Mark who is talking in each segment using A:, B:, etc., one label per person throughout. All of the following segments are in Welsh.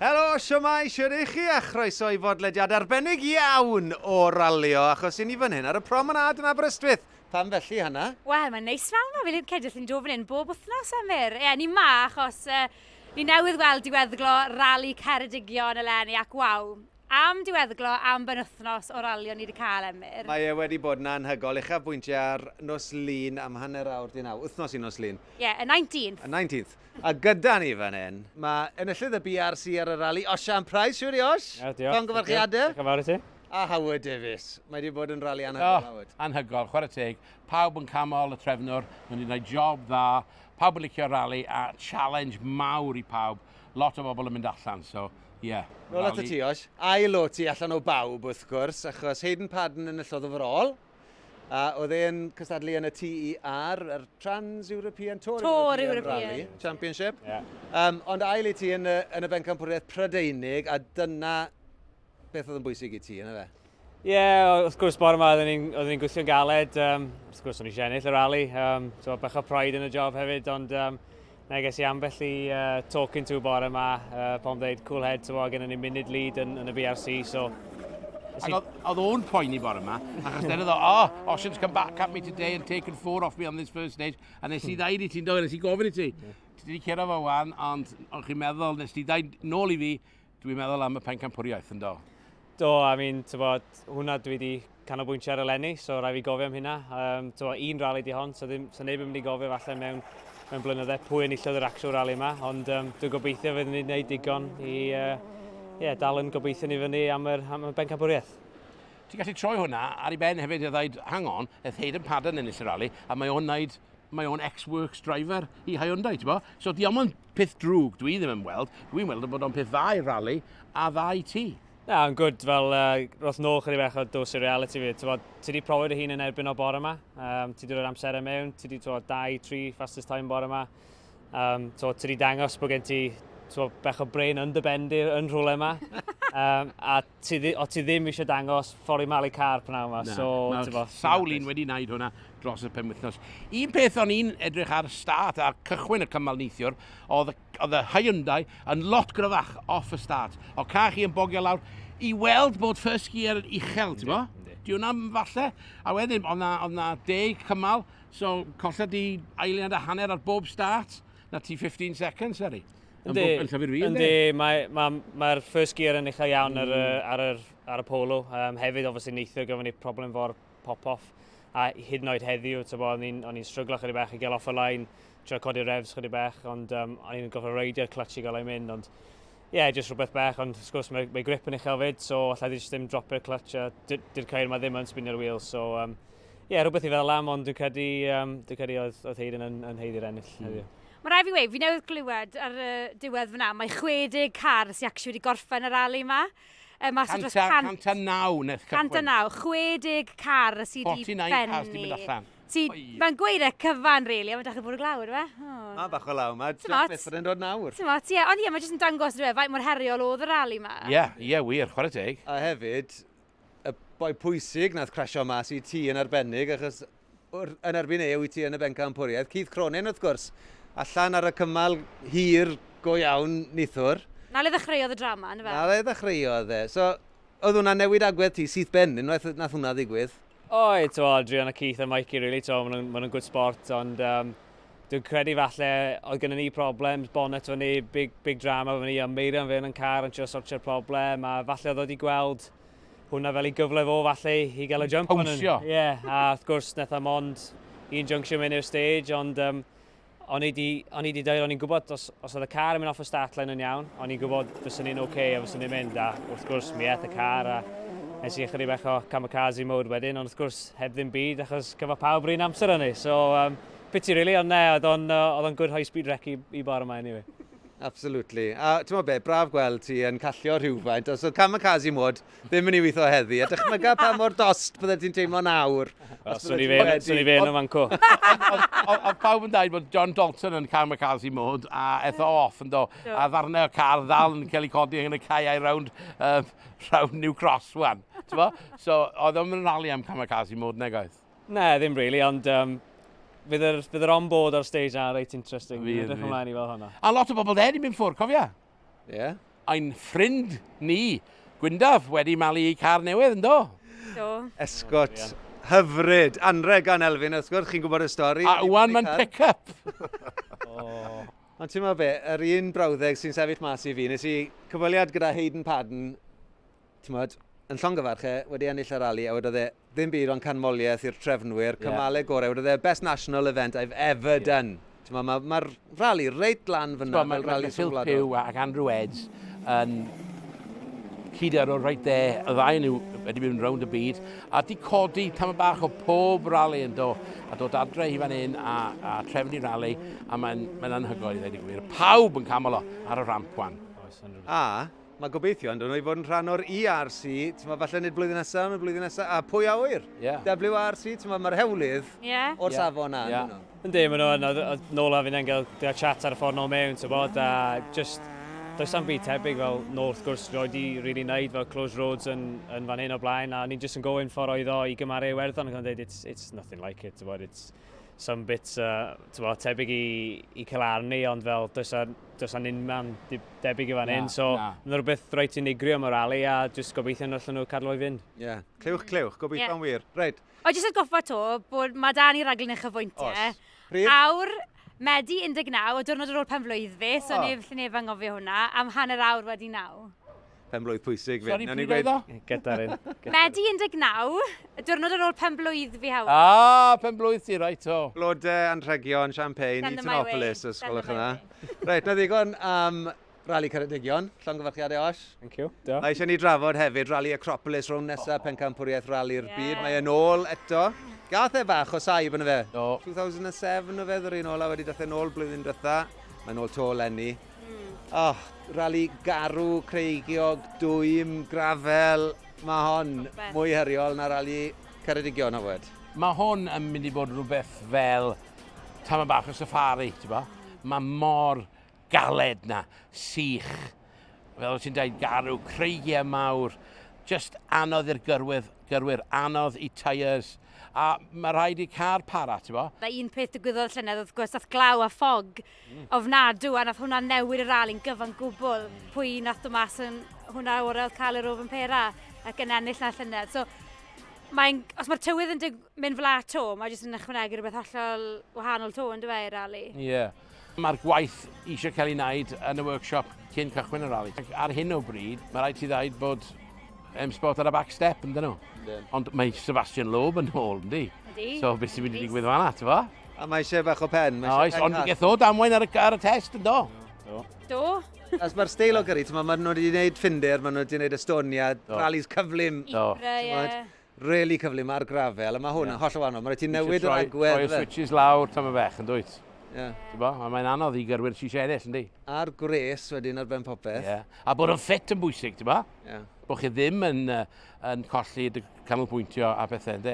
A: Helo, siwmai, shwt y'ch chi a chroeso i fodlediad arbennig iawn o Ralio achos i ni fan hyn ar y promenade yn Aberystwyth! Pam felly, Hannah? Wel, mae'n neis fel
B: ma, fi'n credu os ni'n dod fan hyn bob wythnos am fyr. Ie, ni 'ma achos yy ni newydd weld diweddglo Rali Ceredigion eleni ac waw, am diweddglo am benwythnos o ralio ni wedi cael, Emyr. Mae e wedi bod yn
A: anhygoel, uchafbwyntiau ar nos Lun am hanner awr 'di naw, wythnos i nos Lun. Ie, y 19th. Y
B: 19th. A
A: gyda ni fan hyn, mae enillydd y BRC ar y rali, Osian Price, siŵr i Osh? Ie, diolch. Llongyfarchiadau.
C: Diolch yn fawr i ti. A Howard Davies.
A: Mae wedi bod yn rali anhygoel, oh, Howard. Anhygoel, chwarae teg.
D: Pawb yn camol y trefnwr, mae wedi gwneud job dda. Pawb yn licio rali a challenge mawr i pawb. Lot o bobl yn mynd allan, so Ie. Yeah, Nôl at y ti, oes?
A: Ail o ti allan o bawb, wrth gwrs, achos Hayden Padden yn y llodd overall. A oedd e'n cystadlu yn y TER, yr Trans-European Tour, Tour European, Rally Championship. Yeah. Um,
C: ond ail i ti
A: yn y, yn y bencampwriaeth Prydeinig, a dyna beth oedd yn bwysig i ti, yna fe? Ie, yeah, wrth
C: gwrs bore yma oeddwn ni'n ni gweithio'n galed. Um, wrth gwrs o'n eisiau ennill y rali. Um, so, bach o pride yn y job hefyd, ond um, na ges i ambell i uh, talking to bore yma uh, pan dweud cool head, so, gen ni munud lead yn, yn y BRC. So, Ac
D: oedd o'n poeni bore yma, achos dyna ddo, oh, Ocean's come back at me today and taken four off me on this first stage, a nes i hmm. ddaid i ti'n dod, nes i gofyn i ti. Ti wedi cyrra fo wan, ond o'ch chi'n meddwl, nes ti ddaid nôl i fi, Dwi'n meddwl am y pencampwriaeth, ynddo? Do, I mean,
C: tywod, hwnna dwi wedi canolbwyntio ar y lenni, so rai fi gofio am hynna. Um, tywod, un rali di hon, so, ddim, so neb yn mynd i gofio falle mewn, mewn blynydde pwy yn illodd yr actual rali yma, ond um, dwi'n gobeithio fydd ni'n gwneud digon i uh, yeah, dal yn gobeithio ni fyny am yr, am y bencampwriaeth. Ti'n gallu
D: troi hwnna ar ei ben hefyd i ddaid, hang on, eth Hayden Padden yn ennill y rali, a mae o'n wneud mae o'n ex-works driver i Hyundai, ti'n bo? So di o'm yn peth drwg, dwi ddim yn weld. Dwi'n weld yn bod o'n peth dda i rally a dda i ti. Na, yn gwrdd fel
C: uh, roth nôl chydig bech o dos i reality fi. Ti wedi profi dy hun yn erbyn o bore yma. Um, ti wedi rhoi'r amser am mewn, ti wedi troi 2-3 fastest time bore yma. Um, ti wedi dangos bod gen ti bech o brain yn dy bendir yn rhywle yma. um, a ti, o ti ddim eisiau dangos ffori malu car pnawn yma. Na, so, mae sawl un
D: wedi wneud hwnna dros y penwythnos. Un peth o'n i'n edrych ar start a cychwyn y cymal neithiwr, oedd, oedd y Hyundai yn lot gryfach off y start. O ca chi yn bogio lawr i weld bod first gear yn uchel, ti'n bo? Di hwnna falle? A wedyn, oedd na, oedd na deg cymal, so colled di eiliad a hanner ar bob start, na ti 15 seconds, Seri. Yndi, yndi, mae'r mae,
C: mae first gear yn uchel iawn mm. ar, y, mm. ar, yr, ar y polo. Um, hefyd, obviously, neithio gyfo ni problem fo'r pop-off. A hyd yn oed heddiw, o'n i'n stryglo chydig bach i gael off y lain, trio codi refs chydig bach, ond um, o'n i'n gofio reidio clutch i gael ei mynd, ond ie, yeah, jyst rhywbeth bach, ond wrth gwrs mae, mae grip yn uchel fyd, so allai ddim ddim dropio'r clutch, a dy'r cair mae ddim yn spinio'r wheel, so um, ie, yeah, rhywbeth i feddwl am, ond dwi'n credu, um, dwi'n credu oedd, oedd Hayden yn, yn heiddi'r ennill mm. heddiw. Mae rhaid fi weud, fi newydd
B: glywed ar y diwedd fyna, mae 60 car sy'n actually wedi gorffen y rali yma. E, mas o
D: dros 100... 109 nes cychwyn. 109, 60 car sydd wedi benni.
B: 49 car sydd wedi mynd
D: allan. Mae'n gweud e
B: cyfan, rili, ond mae'n dechrau bod y glawr, fe? Mae bach o law,
A: mae trafferth fod yn dod nawr. Ti'n mot, ie, ond ie, mae jyst yn
B: dangos, dwi'n faint mor heriol oedd y rali yma. Ie, ie, wir, chwarae
D: teg. A hefyd,
A: y boi pwysig nath crasio mas i ti yn arbennig, achos yn erbyn e wyt ti yn y bencampwriaeth. Keith Cronin, wrth gwrs, allan ar y cymal hir go iawn nithwr. Na le ddechreuodd y
B: drama, yn y fe? Na le ddechreuodd e.
A: So, oedd hwnna'n newid agwedd ti syth ben, unwaith nath hwnna ddigwydd? Oedd, to, Adrian
C: a Keith a Mikey, really, to, maen nhw'n ma nhw good sport, ond um, Dwi'n credu falle oedd gyda ni problem, bonnet fy ni, big, big drama fy ni, a Meirion fe yn car yn trio sortio'r problem, a falle oedd wedi gweld hwnna fel ei gyfle fo falle i gael y jump. Pawnsio. Ie, yeah,
D: a wrth gwrs,
C: neth am ond un junction mewn i'r stage, ond um, o'n i wedi deud, o'n i'n gwybod os, Os oedd y car yn mynd off y start line yn iawn, o'n i'n gwybod fyswn i'n OK a fyswn i'n mynd, a wrth gwrs mi eth y car a nes i ychydig bach o kamikaze mode wedyn, ond wrth gwrs heb ddim byd achos cyfo pawb rhywun amser o'n i. So, um, pity really, ond ne, oedd o'n uh, good high speed wreck i, i bar yma anyway. Absolutely.
A: A ti'n be, braf gweld ti yn callio rhywfaint. Os oedd kamikaze mode, ddim yn ei weithio heddi. A dychmyga pa mor dost bydde ti'n teimlo nawr. Swn i fe,
C: swn i fe yn y fanco. Oedd
D: pawb yn dweud bod John Dalton yn cael McCarthy mod, a etho off yn do. A ddarnau o car ddal yn cael ei codi yn y caeau rownd, uh, rownd New Cross wan. So, oedd o'n mynd rali am Kamikaze mod, neg oedd? Ne, ddim really,
C: ond um, bydd yr, bydd yr on-board ar stage na reit
D: interesting. Fydd,
C: fydd. ymlaen
D: i
C: fel hwnna. A
D: lot
A: o
C: bobl
D: dde wedi
C: mynd ffwrdd,
D: cofia?
C: Yeah. Ein
D: ffrind ni, Gwyndaf, wedi malu ei car newydd, ynddo? Do.
B: Esgot.
A: Hyfryd. Anreg gan Elfyn, wrth gwrs, chi'n gwybod y stori. A wan mae'n pick-up. oh. Ond ti'n meddwl be, yr un brawddeg sy'n sefyll mas i fi, nes i cyfweliad gyda Hayden Padden tmod, yn llongyfarch e, wedi ennill y rali, a wedodd e, ddim byd ond canmoliaeth i'r trefnwyr, cymalau yeah. gorau, wedodd e, best national event I've ever yeah. done. Mae'r ma, ma rali reit lan fyna, mae'r ma rali Phil Pugh ac Andrew
D: Edds yn cyd ar ôl reit dde, y ddau nhw wedi mynd rownd y byd, a di codi tam y bach o pob rali yn do, a dod adre i fan hyn a, a trefnu rali, a mae'n mae anhygoel i ddweud y gwir. Pawb yn camol o ar y ramp wan. A,
A: Mae gobeithio ynddo nhw i fod yn rhan o'r ERC, timod, falle nid blwyddyn nesaf, ond y blwyddyn nesaf, a pwy a ŵyr? Yeah. WRC, timod, mae'r hewlydd yeah. o'r yeah. safon na, yeah. nhw. Yndi, maen nhw yn, oedd
C: nôl a fi'n engel, dyna chat ar y ffordd nôl mewn, tybod, a just, does am byd tebyg fel nôl wrth gwrs roed i really wneud fel close roads yn, yn fan hyn o blaen a ni'n just yn gofyn ffordd oedd o i gymaru Iwerddon ac o'n dweud it's, it's nothing like it, tybod, it's, some bits uh, tyfo, tebyg i, i Celarni, ond fel does a, does a unman debyg i fan hyn. So, mae'n rhywbeth rhaid ti'n unigrio am y rali a jyst gobeithio yn allan nhw cadw o'i fynd. Ie, yeah. clywch, clywch,
A: gobeithio yeah. wir. Rhaid. O, jyst at goffa to,
B: bod mae dan i raglen eich chyfwyntiau. Os. Pryd? Awr, Medi 19, o diwrnod ar ôl pen flwydd fi, so oh. neb lle neb angofio hwnna, am hanner awr wedi naw. Pen blwydd pwysig
A: fi. Sorry, Nawn ni pryd oedd gweud- o? Gyda'r
D: un.
C: Medi 19,
B: y diwrnod ar ôl pen blwydd fi Howard. Ah, pen blwydd ti,
D: right o. Blode, anrhegion,
A: champagne, Send them my way. Eatonopolis, os Send gwelwch them yn my dda. Reit, na ddigon am Rali Ceredigion, llongyfarchiadau Osh. Thank you. Diolch. Mae eisiau ni
C: drafod
A: hefyd Rali Acropolis rownd nesa pencampwriaeth Rali'r Ie. Byd. Mae e'n ôl eto. Gath e fach o saib yn y fe. Do. 2007 o fe ddod i'n ôl a wedi dath e'n ôl blwyddyn diwetha. Mae'n ôl to lenni. Oh, rali garw, creigiog, dwym, grafel, mae hon mwy heriol na rali Ceredigion o fod. Mae hwn yn mynd
D: i bod rhywbeth fel tam bach o safari, ti'n bo? Mae mor galed na, sych, fel ti'n dweud, garw, creigiau mawr, just anodd i'r gyrwyr, gyrwyr anodd i tyres, a mae rhaid i car para, ti'n bo? Da un peth digwyddodd
B: llynedd, wrth gwrs, ath glaw a ffog ofnadw a nath hwnna newid y rali'n gyfan gwbl pwy nath dod mas yn hwnna orau oedd cael yr ofn pera ac yn ennill na llynedd. So, mae'n, os mae'r tywydd yn dig, mynd fel ato, mae jyst yn ychwanegu rhywbeth hollol wahanol to yn dweud rali. Ie. Yeah. Mae'r
D: gwaith eisiau cael ei wneud yn y workshop cyn cychwyn y rali. Ar hyn o bryd, mae rhaid ti ddaid bod um, spot ar y back step, yn dyn nhw. Ond mae Sebastian Loeb yn ôl, ynddi? Yndi. So, beth sy'n mynd i ddigwydd fanna, ti'n fo? A mae eisiau bach o
A: pen. Mae Oes, ond geth o
D: damwain ar y, ar y test, yn do? Do. Do.
B: As mae'r
A: steil o gyrru, mae nhw wedi gwneud ffinder, mae nhw wedi gwneud Estonia, rallies cyflym. Do. Really cyflym ar grafel, a mae hwn yn holl o wahanol. Mae rhaid ti newid yr agwedd. Rhoi'r switches lawr tam
D: y fech, yn dwyt? Yeah. Bo, mae'n anodd i gyrwyr sy'n eisiau ennill, yndi? A'r gwres wedyn ar ben
A: popeth. Yeah. A bod yn ffit
D: yn bwysig, ti'n bo? Yeah. Bod chi ddim yn, uh, yn colli dy canolbwyntio a pethau, yndi?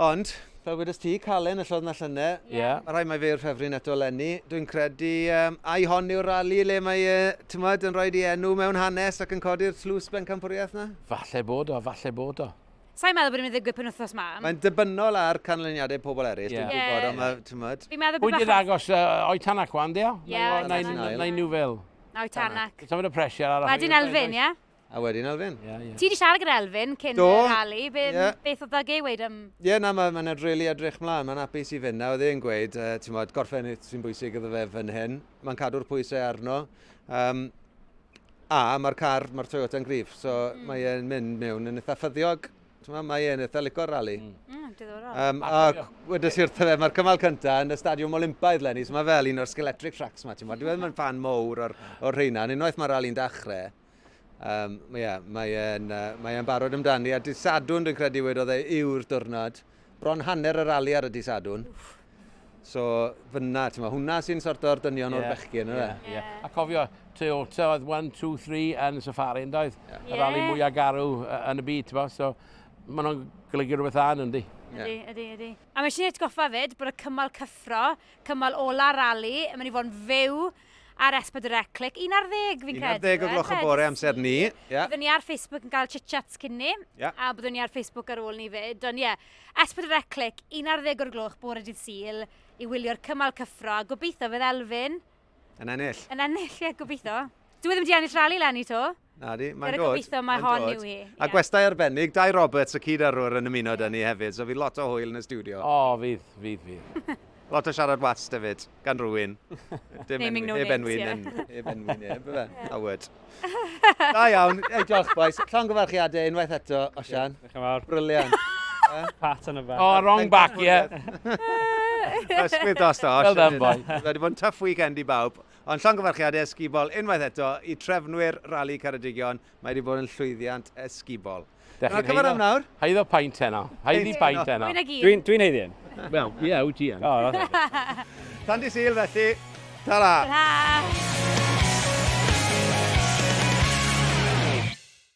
D: Ond,
A: fel wedes ti, Calen y llodd na llyne. Ie. Yeah. Mae rhai mae fe yw'r ffefryn eto lenni. Dwi'n credu um, ai hon yw'r rali le mae, uh, tymod, yn rhoi di enw mewn hanes ac yn codi'r tlws bencampwriaeth na? Falle bod o, falle
D: bod o. Sa'n meddwl bod yn mynd
B: ddigwydd pen wythnos ma. Mae'n debynol ar
A: canlyniadau pobl eraill, yeah. dwi'n yeah. gwybod, ond mae, tymod. Fi'n meddwl bod... Pwy'n agos uh,
D: o'i tanac wan, dio? Ie. Na i nhw fel. Na o'i tanac.
B: Tymod y pressure ar... Mae
D: di'n elfyn, ie?
B: A wedyn Elfyn. Yeah,
A: yeah. Ti wedi siarad gyda
B: Elfyn cyn Do. y rali. Be, yeah. Beth oedd ddag ei weid am... Ie, yeah, na, mae'n ma edrych really
A: edrych mlaen. Mae'n apus i fynd na. Oedd e'n gweud, uh, ti'n modd, gorffen sy'n bwysig iddo fe fan hyn. Mae'n cadw'r pwysau arno. Um, a mae'r car, mae'r Toyota'n grif. So mm. mae e'n mynd mewn yn eitha ffyddiog. Mae mae e'n eitha licor rali. Mm. Mm, diddorol. Um, a wedi sir fe, mae'r cymal cyntaf yn y stadiwm Olympaidd lenni, so mae fel un o'r skeletric tracks ma, ti'n modd. Dwi'n meddwl mae'n fan mowr o'r, or rheina, yn unwaith mae'r rali'n dechrau. Um, mae, yeah, mae e'n uh, mae e'n barod amdani. A dydd Sadwn, dwi'n credu wedodd e, yw'r diwrnod. Bron hanner y rali ar y dydd Sadwn. So, fyna, ti'n ma, hwnna sy'n sort o'r dynion yeah. o'r bechgyn, yna. Yeah, yeah. A cofio,
D: Toyota oedd 1, 2, 3 yn y safari, yn doedd? Yeah. Y rali mwyaf garw yn y byd, ti'n ma, so maen nhw'n golygu rhywbeth dda yn yndi. Ydy, ydy, ydy.
B: A mae eisiau atgoffa fyd bod y cymal cyffro, cymal ola rali, mae'n i fod yn fyw ar S4C Click, 11 fi'n credu. 11 o gloch y bore amser
A: ni. Yeah. Byddwn ni ar Facebook
B: yn cael chit-chats cyn ni, yeah. a byddwn ni ar Facebook ar ôl ni fyd. Ond ie, yeah, S4C Click, 11 o'r gloch bore dydd Sil, i wylio'r cymal cyffro, a gobeithio
A: fydd
B: Elfyn... Yn ennill. Yn
A: ennill,
B: ie, yeah, gobeithio. Dwi e ddim wedi ennill rali lenni to. Na di, mae'n dod.
A: Gobeithio mae hon yw
B: hi. A gwestai arbennig,
A: Dai Roberts, y cyd arwr yn ymuno da ni hefyd, so fydd lot o hwyl yn y studio. O, oh, fydd, fydd,
D: fydd. lot o siarad
A: wast hefyd, gan rwy'n. Dim enwi, no
B: heb enwi, yeah. heb enwi,
A: neb, fe, Howard. da iawn, ei diolch boys, llon gyfarchiadau unwaith eto, Osian. Yeah, Diolch yn fawr. Briliant. Pat on
C: y back. Oh, wrong back, ie.
D: Yeah.
A: Ysgwyd dos da, Osian. Well done, boy. Wedi
D: bod yn tough weekend
A: i bawb. Ond llongyfarchiadau ysgubol unwaith eto i trefnwyr Rali Ceredigion, mae wedi bod yn llwyddiant ysgubol. Dach chi'n haeddo, am nawr? haeddo paint heno,
D: haeddi paint heno. Dwi'n dwi haeddi hyn.
B: Wel,
C: ie, yeah, wyt ti yn.
D: Oh, Tan
A: di syl
D: felly, ta-ra!
A: Ta-ra!